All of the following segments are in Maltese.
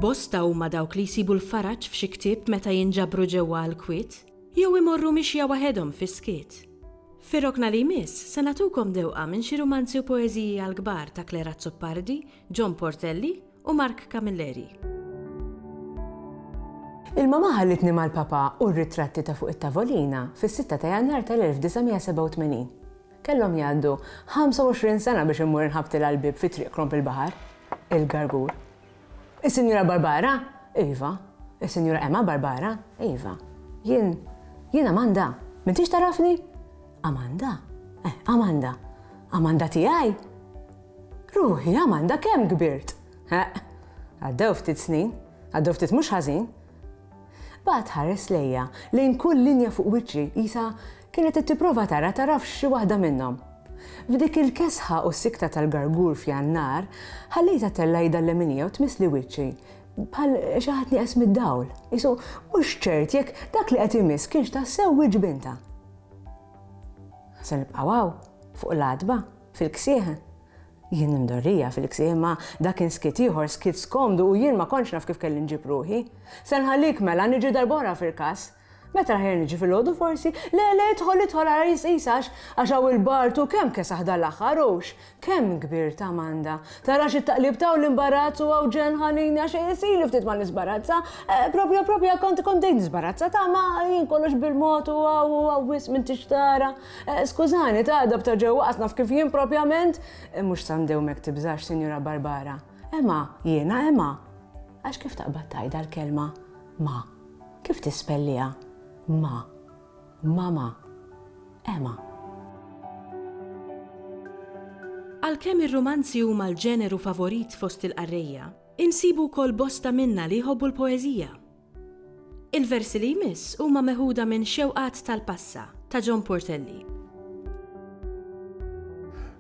Bosta huma dawk li jsibu l-faraġ f'xi ktieb meta jinġabru ġewwa għall-kwiet, jew imorru mixja waħedhom fis-skiet. Fir-rokna li jmiss se nagħtukom dewqa minn xi rumanzi u poeżiji għall-kbar ta' Claire Azzopardi John Portelli u Mark Camilleri. Il-mama ħallitni mal-papa u r-ritratti ta' fuq it-tavolina fis-sitta ta' Jannar tal-1987. Kellhom jgħaddu 25 sena biex immur inħabtilha l-bieb fi Triq Kromp il-Baħar, il-Gargur. Is-Sinjura Barbara? Iva. Is-Sinjura Emma Barbara? Iva. Jien, jien Amanda. M'intix tarafni? Amanda? Eh, Amanda. Amanda tiegħi? Ruħi, Amanda, kemm kbirt? Eħ, għaddew ftit snin, għaddew ftit mhux ħażin. Baqgħet tħares lejja, lejn kull linja fuq wiċċi, qisha kienet qed tipprova tara tarafx xi waħda minnhom. F'dik il-kesħa u s-sikta tal-gargur f'Jannar, ħallejtha tella' idha l-leminija u tmissli wiċċi, bħal xi ħadd nieqes mid-dawl. Isu mhux ċert jekk dak li qed imiss kienx tassew wiċċ bintha. Se nibqgħu hawn, fuq l-għatba, Fil-ksieħ? Jien imdorrija fil-ksieħ imma dak kien skiet ieħor, skiet skomdu u jien ma kontx naf kif kelli nġib ruħi. Se nħallik mela, niġi darb'oħra f'Irkaż. Meta aħjar niġi filgħodu forsi? Le, le, idħol, idħol ara jisqis għax għax hawn il-bard hu kemm kesaħ dal-aħħar hux kemm kbir ta' manda. Tarax it-taqlib ta' hawn l-imbarazz u hawn ġenn ħanini għax ili ftit ma nisbarazza. Proprja, proprja kont kont bdejt nisbarazza ta' ma jien kollox bil-mod u hawn u hawn wisq m'intix tara. Skużani, t'għadha b'ta' ġewwa qas naf kif jien propjament. Mhux sa ndewmek tibżax, Sinjura Barbara. Emma, jiena Emma. Għax kif taqbad tgħidha l-kelma ma? Kif tispelliha? Ma. Mama. Emma. Għalkemm ir-rumanzi huma l-ġeneru favorit fost il-qarrejja, insibu wkoll bosta minna li jħobbu l-poeżija. Il-versi li jmiss huma meħuda minn Xewqat tal-Passa ta' John Portelli.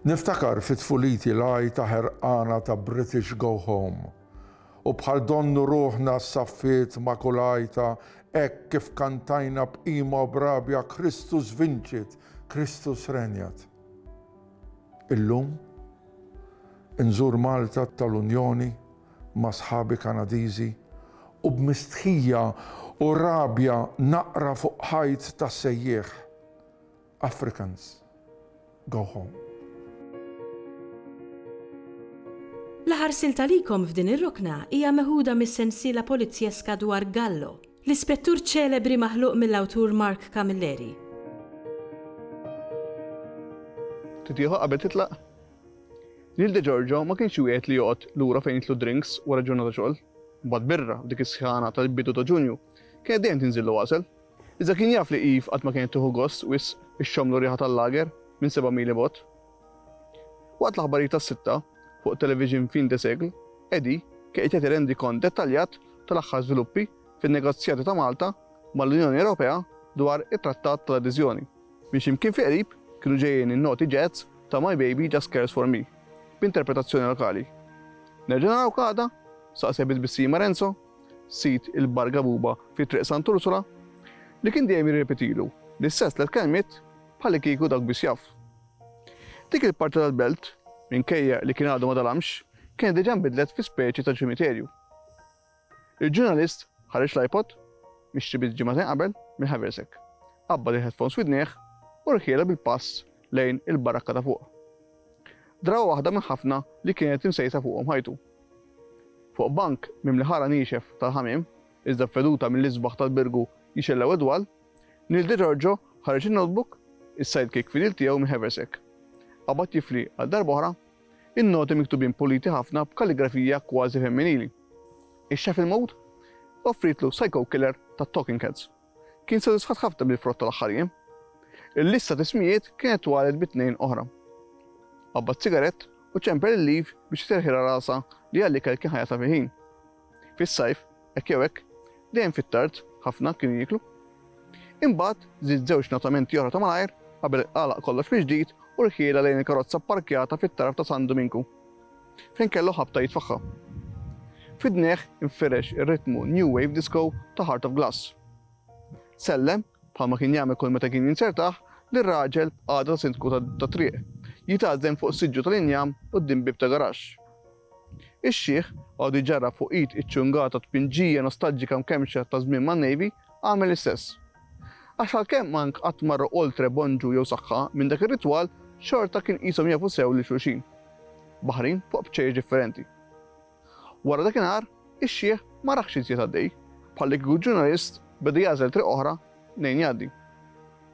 Niftakar fi tfuliti l-għajta ħerqana ta' British Go Home u bħal donnu ruħna s-saffiet ma' kull għajta hekk kif kantajna b'qima u b'rabja Kristus Vincit, Kristus Regnat. Illum, inżur Malta tal-Unjoni ma' sħabi Kanadiżi u b'mistħija u rabja naqra fuq ħajt ta' sejjieħ, Africans, go home. L-aħħar silta likom f'din ir-rokna hija meħuda mis-sensiela polizzjeska dwar Gallo, l-ispettur ċelebri maħluq mill-awtur Mark Camilleri. Titieħu qabel titlaq? Lil De Giorgio ma kienx wieħed li joqgħod lura fejn jitlu drinks wara ġurnata xogħol. Mbagħad birra f'dik is-sħana tal-bidu ta' Ġunju kienet dejjem tinżillu għasel. Iżda kien jaf li Eve qatt ma kienet tieħu gost wisq ixxommlu riħa tal-lager minn seba' mil 'il bogħod. Waqt l-aħbarijiet tas-sitta, fuq it-television Fin de Siècle, Eddie kien qed jagħti rendikont dettaljat tal-aħħar żviluppi fin-negozjati ta' Malta mal-Unjoni Ewropea dwar it-Trattat tal-Adeżjoni. Minn xi mkien fi qrib kienu ġejjin in-noti jazz ta' My Baby Just Cares For Me b'interpretazzjoni lokali. Nerġa' narawk għada? saqseh bi tbissima Renzo, sid il-Bar Gabuba fi Triq Sant' Ursula, li kien dejjem jirrepetilu l-istess tliet kelmiet bħalikieku dawk biss jaf. Dik il-parti tal-belt, minkejja li kien għadu ma dalamx, kienet diġà nbidlet fi speċi ta' ċimiterju. Il-ġurnalist ħareġ l-iPod, mixtri biss ġimagħtejn qabel, mill-haversack, qabbad il-headphones widnejh u rħielha bil-pass lejn il-barakka ta' fuq. Drawa waħda minn ħafna li kienet imsejsa fuqhom ħajtu. Fuq bank mimli ħara niexef tal-ħamiem, iżda b'veduta mill-isbaħ tal-birgu jixellgħu id-dwal, Neil Degiorgio ħareġ in-notebook, is-sidekick fidil tiegħu mill-haversack. Qabad jifli għal darb'oħra In-noti miktubin puliti ħafna b'kalligrafija kważi femminili. Ix-shuffle mode offrietlu psycho killer ta' Talking Heads. Kien sodisfatt ħafna bil-frott tal-aħħar jiem. Il-lista t'ismijiet kienet twalet bi tnejn oħra. Qabbad sigarett u ċemper il-leaf biex iserħilha rasha li għall-ikel kien ħajatha fil-ħin. Fis-sajf, hekk jew hekk, dejjem fit-tard ħafna kienu jieklu. Imbagħad żied żewġ natamenti oħra ta' malajr qabel għalaq kollox mill-ġdid u rħielha lejn il-karozza pparkjata fit-taraf ta' San Duminku, fejn kellu ħabta jitfaħħa. F'idnejh infirex ir-ritmu new wave disco ta' Heart of Glass. Sellem, bħalma kien jagħmel kull meta kien jinzertah, lir-raġel b'qagħda ta' sindku tat-triq, jitgħażżen fuq siġġu tal-injam quddiem bieb ta' garaxx. Ix-xiħ, għodu jġarrab fuq id iċċungata tpinġija nostalġika mkemmxa ta' żmien man-Navy, għamel l-istess. Għax għalkemm Mank qatt marru oltre Bonġu jew Saħħa minn dak ir-ritwal, xorta kien qishom jafu sew lil xulxin. Baħrin fuq bċejjex differenti. Wara dakinhar, ix-xiħ ma raħx iżjed għaddej, bħallikieku ġurnalist beda jagħżel triq oħra mnejn jgħaddi.